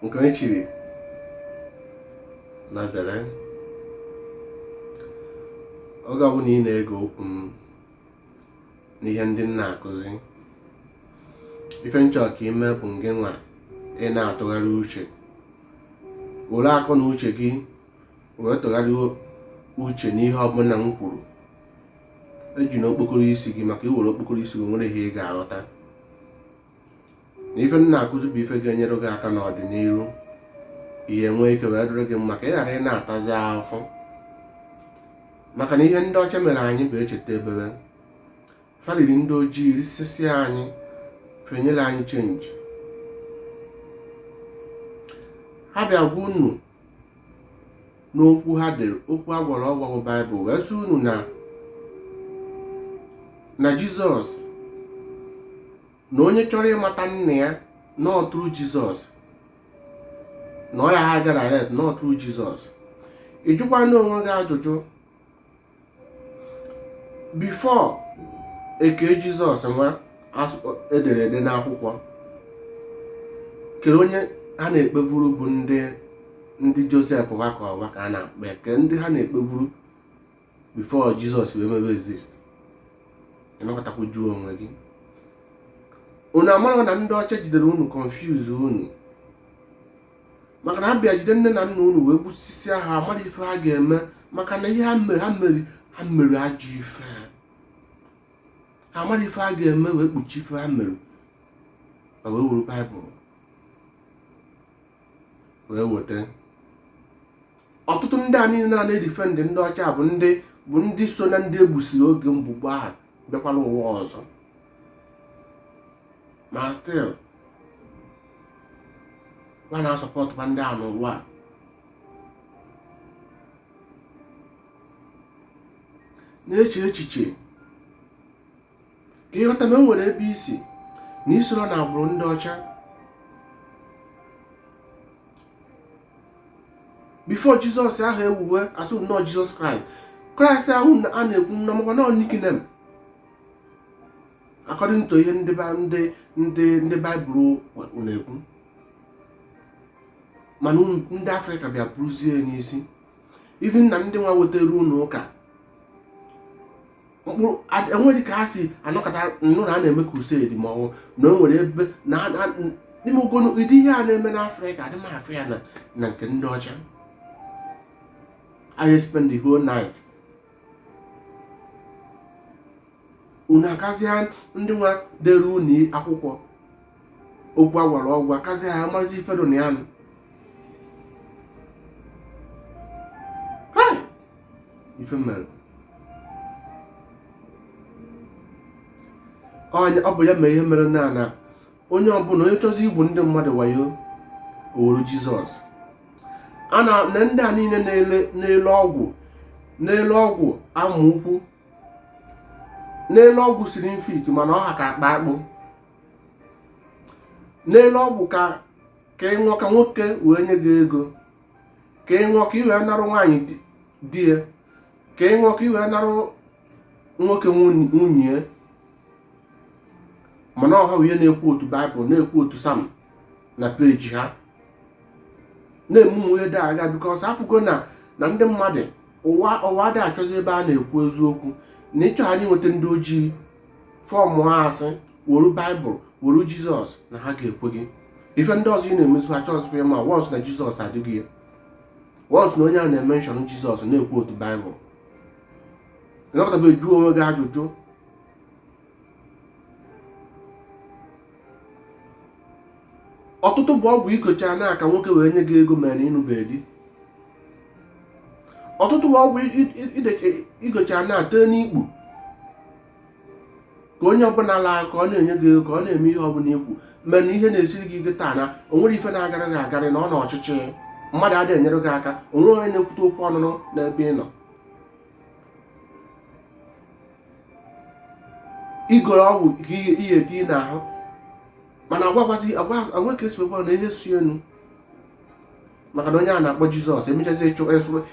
nke onye chiri nya zere oge ọbụla ị na-ege okwu m n'ihe ndị m na-akụzi ife m chọ ka i mee bụ ngị nwa ị na-atụgharị uche were akọ na uche gị wee tụgharịa uche n'ihe ọbụla m kwuru ejina okpokoro isi gị maka i were okpokoro isi gị o nwerọ ihe ị ga-aghọta na ife m na-akụzi bụ ife ga-enyere gị aka n'ọdịnihu ihe nwee ike wee dịrị gị mma ka ị ghara ịna-atazi afụfụ maka na ihe ndị ọcha mere anyị bụ echeta ebebe fa riri ndị ojii risisia anyị fa enyerọ anyị chenji ha bịa gwa unu n'okwu ha dere okwu a gwara ọgwa bụ baịbụl wee sị unu na na jizọs na onye chọrọ ịmata nna ya na ọ through jizọs na ọ ya ha ga-arelate na ọ through jizọs ị jụkwana onwe gị ajụjụ before e kee jizọs nwa e dere ede n'akwụkwọ kedụ onye ha na-ekpeburu bụ ndị ndị josef wakọ ọwa ka a na-akpọ ya kee ndị ha na-ekpeburu before jizọs wee mebe exist ị nọkatakwa jụọ onwe gị unu amara na ndị ọcha jidere unu confuse unu maka na ha bịa jide nne na nna unu wee gbusisia ha amara ife ha ga-eme maka na ihe ha mere ha mere ha mere ajọ ife ha amara ife ha ga-eme wee kpuchie ife ha mere ma wee were baịbụl wee weta ọtụtụ ndị a niile na-edefend ndị ọcha bụ ndị bụ ndị so na ndị e gbusiri oge mgbe gboo ahụ bịakwara ụwa ọzọ ma still a na-asupportkwa ndị a n'ụwa a na-eche echiche ka ị ghọta na o nwere ebe i si na i soro na agbụrụ ndị ọcha before jizọs ahụ ewuwe a sị unu na ọ jizọs kraịst kraịst ahụ a na-ekwu unu makwa na ọ nickname according to ihe ndị ndị ndị ndị baịbụl na-ekwu mana ndị afrịka bịa buruzie n'isi even na ndị nwa wetara unu ụka mkpụrụ enweghị ka ha si anọkọta nnụ na a na-eme crusade ma ọ wụ na o nwere ebe na n'ime ogonu ụdị ihe a na-eme n'afrịka adị m afụ ya na nke ndị ọcha I spend the whole night unu akazia ndị nwa dere unu akwụkwọ okwu agwara ọgwụ akazia ha mazi ife dị na ya nụ ife mere ọ bụ ya mere ihe mere na na onye ọbụla onye chọzi igwu ndị mmadụ wayo o weru jizọs a na ndị a niile na-ele ọgwụ na-ele ọgwụ amụ ukwu na-ele ọgwụ slim fit mana ọ ha ka akpa akpụ na-ele ọgwụ ka ka ị ṅụọ ka nwoke wee nye gị ego ka ị ṅụọ ka i wee narụ nwaanyị di ya ka ị ṅụọ ka i wee narụ nwoke nwunye mana ọ ha nwa na-ekwootu baịbụl na-ekwootu sam na peji ha na-eme ụmụ ihe dị aga bikọs a fụgo na na ndị mmadụ ụwa ụwa adị achọzi ebe a na-ekwu eziokwu na ịchọ anyị nweta ndị ojii ọfụma a sị were baịbụl were jizọs na ha ga-ekwe gị ife ndị ọzọ ị na-emezi ha achọzikwa ịma wọns na jizọs adịghị ya wọns na onye a na-emenshọn jizọs na-ekwootu baịbụl ị nọkatabeghị jụọ onwe gị ajụjụ ọtụtụ bụ ọgwụ i gocha na-aṅụ ka nwoke wee nye gị ego mere na ị nụbeghị di ọtụtụ bụ ọgwụ i gocha na-ete n'ikpu ka onye ọbụla laa ka ọ na-enye gị ego ka ọ na-eme ihe ọbụla i kwu mere na ihe na-esiri gị ike taa na o nwere ife na-agara gị agarị na ọ nọ n'ọchịchị mmadụ adịghị enyere gị aka o nwe onye na-ekwute okwu ọnụnụ n'ebe ị nọ i goro ọgwụ ka i wee tinye n'ahụ mana agwa agwazi agweke si wekwa na ihe si enu maka na onye a na-akpọ jizọs emechazi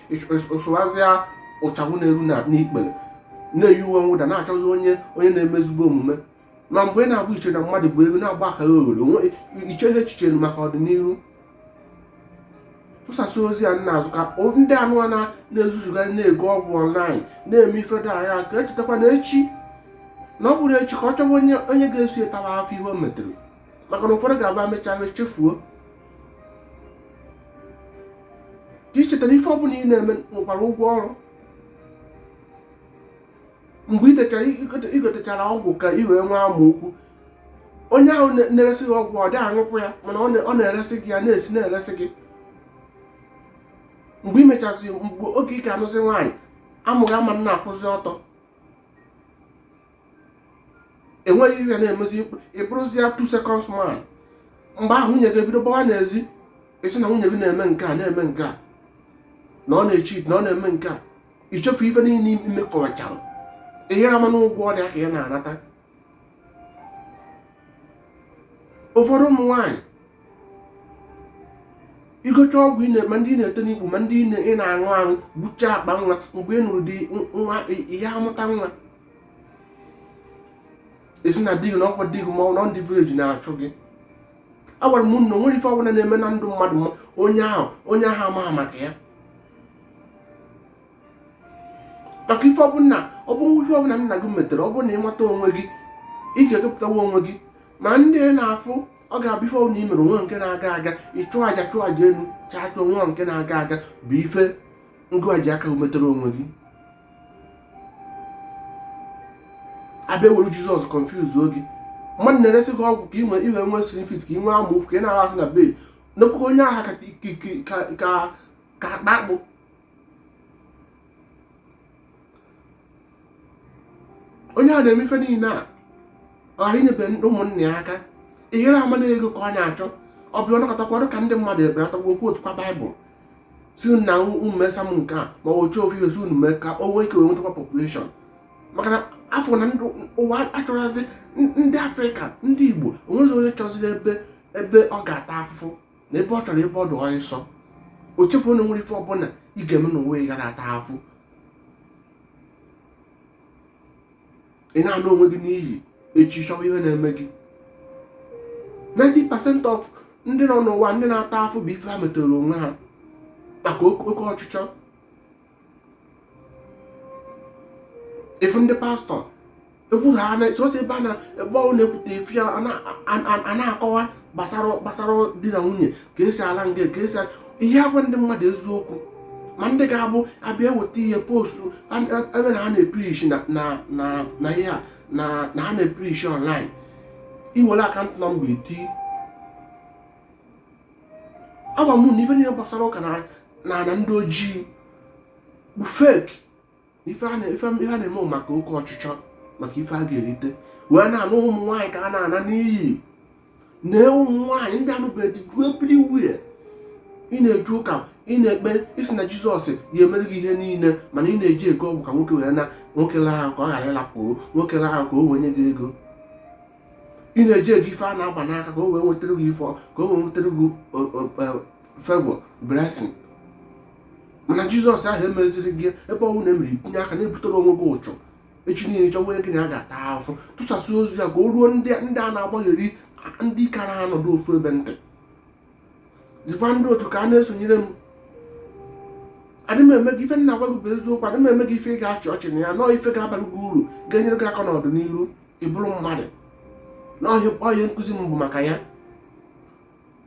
i suwazia ịchafụ na-eru n'ikpere na-eyi uwe mwụda na-achọzi onye onye na-eme ezigbo omume na mgbe ị na-agba iche na mmadụ bụ ego na-agba akara oghoro onwe i cheghị echiche maka ọdịnihu tụsasị ozi a na-azụ ka ndị anụ a na-ezuzugharị na-ego ọgwụ ọnlaịn na-eme ife dị aga ka e chetakwa na echi na ọ bụrụ echi ka ọ chọwa onye onye ga-eso ya tawa afụfụ ihe o metere maka na ụfọdụ ga-aba mechaa chefuo ka i cheta na ife ọ bụla ị na-eme nwekwara ụgwọ ọrụ mgbe i techara i gotechara ọgwụ ka i wee nwee amụ ukwu onye ahụ na-eresị gị ọgwụ ọ dịghị aṅụkwụ ya mana ọ na-eresị gị ya na-esi na-eresị gị mgbe i mechasị mgbe oge ị ga-anụzi nwaanyị amụ gị ama na-akwụzi ọtọ enweghị ihe na-emezi ị bụrụzie two seconds man mgbe ahụ nwunye gị ebido gbawa n'ezi ị sị na nwunye gị na-eme nke a na-eme nke a na ọ na-echi na ọ na-eme nke a ichefu ife niile imekọchara ị yara ama na ụgwọ ọrụ aka ya na-anata ụfọdụ ụmụ nwaanyị igocha ọgwụ ma ndị ị na-ete n'ikpu ma ndị ị na-aṅụ aṅụ gbuchaa akpa nwa mgbe ị nụrụ di nwa ya amụta nwa ị sị na di gị na ọkwa di gị ma ọ na ndị vileji na-achụ gị agwara m na o nwere ife ọbụla na-eme na ndụ mmadụ ma onye ahụ amaghị maka ya maka ife ọbụla ọ bụ ihe ọbụla nna gị metere ọ bụ na ịmata onwe gị ị ga-ekepụtawa onwe gị ma ndị na-afụ ọ ga-abụ ife ọbụla i mere onwe nke na-aga aga ịchụ aja chụọ aja elu chaa chụọ nwa nke na-aga aga bụ ife ngị nwa ji aka metere onwe gị abịa were jizọs kọnfuzuo gị mmadụ na-eresi gị ọgwụ ka ị nwee inwe nwee slim fit ka ị nwee amaokwu ka ị na-ahụ asị na be n'okwukwe onye agha ka ka akpa akpụ onye a na-eme ife niile a ghara inyebe ụmụnne ya aka ị yara ama na ego ka ọ na-achọ ọ bịa ọnọkọtakwa ọrụ ka ndị mmadụ ebere atakwa ọ kwootukwa baịbụl si na unu mesa m nke a ma ọ chọọ ofe ihe si unu mee ka o nwee ike wee nwetakwa population maka na a fụ na ndị ụwa achọrọzi ndị afrịka ndị igbo onwezi onye chọziri ebe ebe ọ ga-ata afụfụ na ebe ọ chọrọ ebe ọ dị ọsọ o chefuo na o nwere ife ọbụla ị ga-eme n'ụwa ị yara ata afụ ị na-ana onwe gị n'iyi echi chọwa ihe na-eme gị 90% of ndị nọ n'ụwa ndị na-ata afụ bụ ife ha metere onwe ha maka oke ọchịchọ ị fụ ndị pastọ ekwuru ha na chọsị ebe a na ebe ọ na-ekwute ị fụ ya a na- a- a na-akọwa gbasara gbasara di na nwunye ka esi ala nga ka esi ala- ihe agwa ndị mmadụ eziokwu ma ndị ga-abụ abịa eweta ihe postu a- a- ebe na ha na-eprishi na na na na ihe a na na ha na-eprishi online iwere akant nọmba eti agwa m na ife niile gbasara ụka n'ana ndị ojii bụ fake ife a na-eme maka oke ọchịchọ maka ife a ga-erite wee na-ana ụmụ nwaanyị ka a na-ana n'iyi na ụmụ nwaanyị ndị anụbeghị everywhere ị na-eje ụka ị na-ekpe ị sị na jizọs ya-emere gị ihe niile mana ị na-eje ego ọgwụ ka nwoke wee na nwoke laa ahụ ka ọ ghara ịlapụ nwoke laa ahụ ka o wee nye gị ego ị na-eje ego ife a na-agba n'aka ka o wee nwetara gị ife ka o wee nwetara gị favour blessing mana jizọs ahụ emeziri gị ebe ọnwụ na emere itinye aka na-ebutere onwe gị ụchụ echi niile chọwa onye gị na ya ga-ata afụ tụsasị ozi a ka o ruo ndị a na-agbagheri ndị ka na-anọdụ ofu ebe ntị zikwa ndị otu ka a na-esonyere m adị m eme gị ife m na-agwa gị bụ eziokwu adị m eme gị ife ị ga-achị ọchị na ya nọọ ife ga-abara gị uru ga-enyere gị aka n'ọdịnihu ịbụrụ mmadụ nọọ ihe nkụzi m bụ maka ya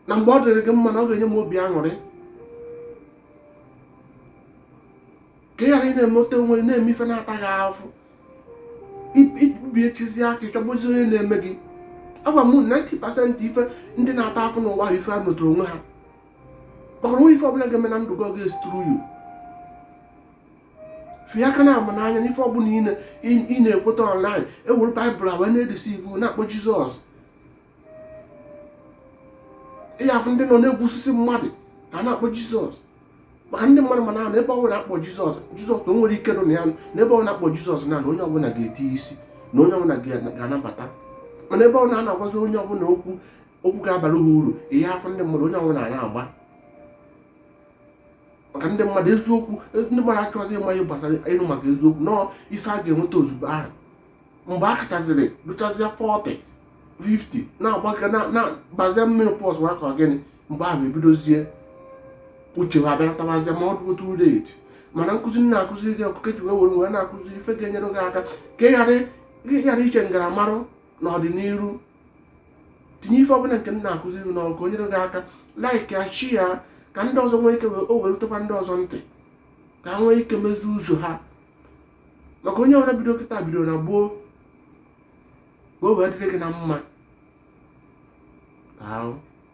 na mgbe ọ dịrị gị mma na ọ ga-enye m obi aṅụrị ka ị ghara ị na-emeta onwe gị na-eme ife na-ata gị ahụfụ ị bịa echizi aka ị chọbazi onye na-eme gị agwa m 90% ife ndị na-ata afụfụ n'ụwa bụ ife ha metere onwe ha maka onwe ife ọbụla ga-eme na ndụ gị ọ ga-esi through you fie aka na ama n'anya n'ife ọbụla ị na-ekweta online ewere baịbụl a wee na-edeceive na-akpọ jizọs ị ya-afụ ndị nọ na-egbusisi mmadụ ha na-akpọ jizọs maka ndị mmadụ mana na ebe ọbụla akpọ jizọs jizọs na o nwere ike nọ na ya na ebe ọbụla akpọ jizọs na na onye ọbụla ga-eti isi na onye ọbụla ga-anabata mana ebe ọbụla a na-agwazi onye ọbụla okwu okwu ga-abara ha uru ị ya-afụ ndị mmadụ onye ọbụla na-agba maka ndị mmadụ eziokwu ndị mmadụ achọghịzị ịma ihe gbasara ịnụ maka eziokwu nọọ ife a ga-enweta ozugbo ahụ mgbe ha kachaziri ruchazie 40 50 na-agbaga na-abazie menopause nwa ka gịnị mgbe ahụ ebidozie uche ha abịa natabazie ma ọ dụgo too late mana nkụzi m na-akụziri gị akụkọ ji wee were wee na-akụziri ife ga-enyere gị aka ka ị ghara iche m gara marụ n'ọdịnihu tinye ife ọbụla nke m na-akụziri n'ọrụ ka o nyere gị aka like ya share ya ka ndị ọzọ nwee ike o wee rutekwa ndị ọzọ ntị ka ha nwee ike mezie ụzọ ha maka onye ọbụla bido kịta bido na gboo ka o wee dịrị gị na mma ahụ